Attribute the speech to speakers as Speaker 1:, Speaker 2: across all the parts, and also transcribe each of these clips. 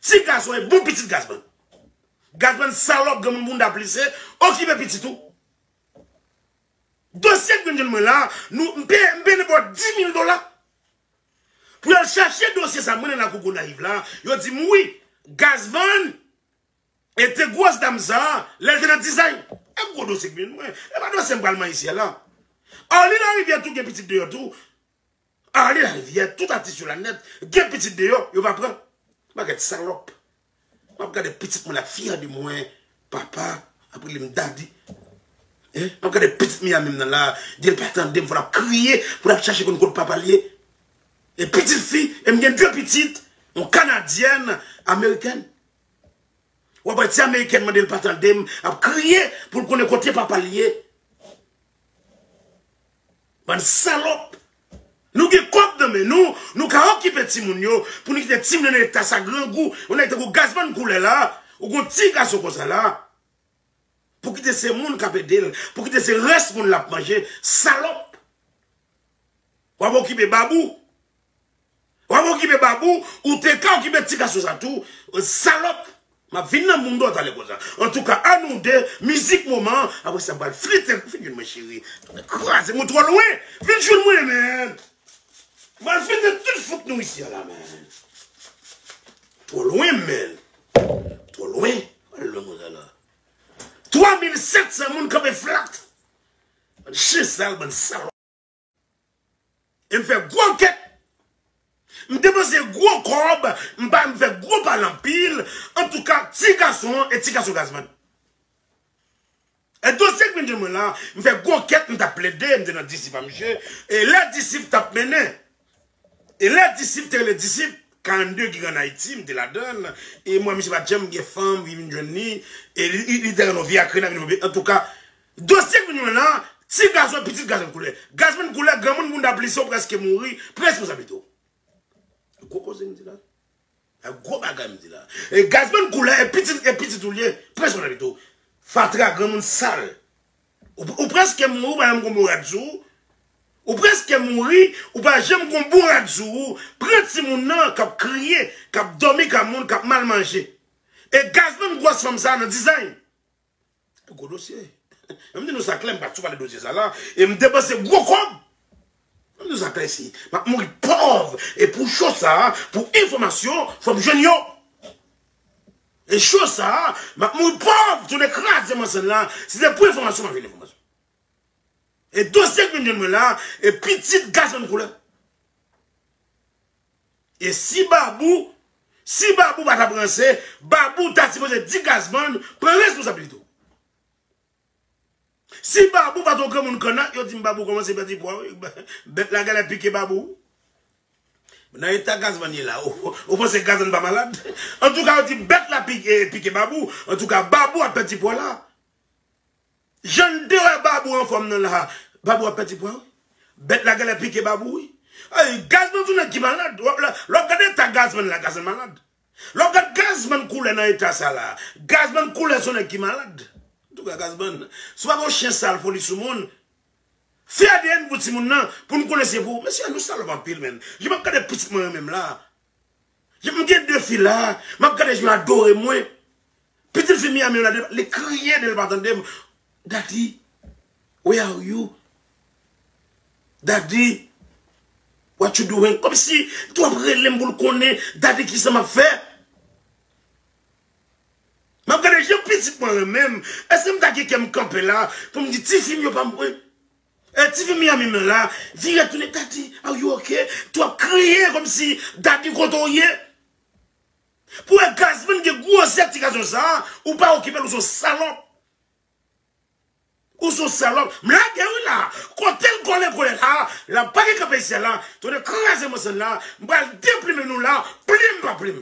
Speaker 1: Ti gaz oy bon pitit gazman. Gazman salop granmoun bounda plise okipe pitit ou. Dosye gnyn mwen la nou mpe mpe depo 10000 dola pou yal chache dosye sa mwen nan lakou gonayiv la yo dim wi gazman ete gros dam sa lel te nan dizay e gro dosye gnyn mwen epa dosye mpral man ici a la arly lariviere tou gen pitit deyò tou Ale la rivyè tout atis yo la nèt gen pitit deyò yo pa pran bagèt salòp map gade pitit mwen lap fyè de mwen papa ap rele m daddy map gade pitit Miami m nan la di l pa tande m fò lap kriye pou lap chache konn kot papa l ye e pitit fi e m gen de pitit yon kanadyèn amerikèn wap wè ti amerikèn mande l pa tande m ap kriye pou l konnen kote papa l ye. Bann salòp! Nou gen kòb nan men nou, nou ka okipe timoun yo, pou nou kite timoun yo nan eta sa grangou, yon nèg tankou Gazman koulè la, ou gon ti gason konsa la, pou kite se moun kap edel, pou kite se rès moun lap manje, salòp! Wap okipe babou, Wap okipe babou ou te ka okipe ti gason sa tou salop map vin nan moun do talè konsa antouka a nou de mizik moman apre sa bal flite vin jwenn mwen cheri kraze mwen tro lwen vin jwenn mwen man bal flite tout fout nou isi a la man tro lwen man tro lwen al lwen konsa la 3700 moun kanpe flat bann chen sal bann salop. E m fè gwo ankèt. M depanse gwo kòb, m pa m fè gwo pale anpil. Antouka, ti gason an e ti gason Gazman. E dosye k vin jwenn mwen la, m fè gwo ankèt, m t ap plede, m te nan disip a misye, e lè disip t ap mennen. E lè disip te rele disip, 42 ki an Ayiti, m te ladann, e m wè misye pat janm gen fanm ki vin jwenn li, e li te renonve ak Rena vin renonve, antouka, dosye k vin jwenn la, ti gason e pitit gason koule. Gazman koule, granmoun bounda plise ou prèske mouri, pran responsablite w. Gwo koze m di la. Sa gwo bagay m di la. E Gazman koulè e pitit e pitit ou li ye, pran swen lavi tou. Fatra granmoun sal. Ou preske mouri ou pa janm gon bon rad sou ou. Ou preske mouri ou pa janm gon bon rad sou ou. Pran timoun nan kap kriye, kap domi ka moun, kap mal manje. E Gazman gwòs fanm sa nan dizay. Gwo dosye. Mwen di nou sa klè, m pa sou pale dosye sa la, e m depanse gwo kòb. Mwen di nou sa klè isi, m ap mouri pòv, e pou cho sa, pou enfòmasyon, fò m jwenn yo. E cho sa, m ap mouri pòv, si yo te kraze m ansèn la, si se pou enfòmasyon, m ap jwenn enfòmasyon. E dosye ki vin jwenn mwen la, e pitit gason m koule. E si babou si babou pa tap ranse babou ta sipoze di gazman pran responsabilite w si babou pat yon granmoun kanna yo dim babou komanse pèdi pwa wi bèt la gèlè pike babou wi nan eta gazman ye la ou panse gazman pa malad antouka yo di bèt la pike babou antouka babou ap pèdi pwa la Janm te wè babou anfòm nan la babou ap pèdi pwa wi bèt la gèlè pike babou wi ayy gazman sou nèg ki malad lè wap gad eta gazman la gazman malad lè wap gad gazman koulè nan eta sa la gazman koulè son nèg ki malad antouka gazman si pa gon chen sal foli sou moun fè adn pou timoun nan poun konnen se pou mesye nou salòp anpil menn jan map gade pitit mwen yo menm la. M gen 2 fi la, m ap gade yo adore mwen. Pitit fi Miami an la, li kriye lè l pa tande m, Daddy, where are you? Daddy, what you doing? Kòmsi li toujou ap rele m pou l konnen, Daddy, ki sa m ap fè? M ap gade jan pitit mwen renmen m. Èske m ta gen kè m kanpe la pou m di ti fi m yo pa m vre? E tifi Miami m la vire tounen Daddy are you ok tou ap kriye komsi Daddy kote w ye Pou wè Gazman gen gwozè ti gason sa ou pa okipe l ou son salòp Ou son salòp M lage wi la kote l kole kole la la pa gen kanpe isit la tounen kraze mòso la m pral deplimen nou la plim pa plim.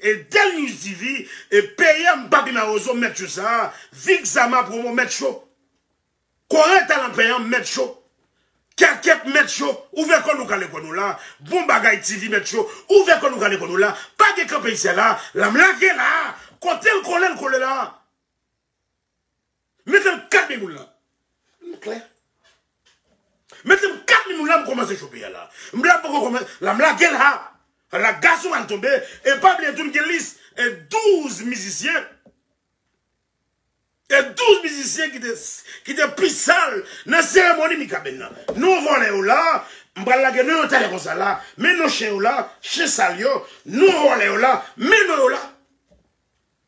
Speaker 1: E Denius TV e peyè m papi marozo mèt yo sa vic zama promo mèt yo kore talan payan mèt yo kèkèt mèt yo ouvè kò nou kale kò nou la bon bagay TV mèt yo ouvè kò nou kale kò nou la pa gen kanpe isyè la la m lage la kotel kole l kole la. Mete m 4 min moun lan. M klè. Mete m 4 min moun lan m kòmanse chope a la. M la m poko kòman la m lage la. La gason an tonbe e pa bliye tou m gen lis e 12 mizisyen. E 12 mizisyen ki te ki te pi sal nan seremoni Mikaben nan. Non vòlè yo la, m pral lage non yo talè konsa la. Men non chen yo la, chen sal yo. Non vòlè yo la, men non yo la.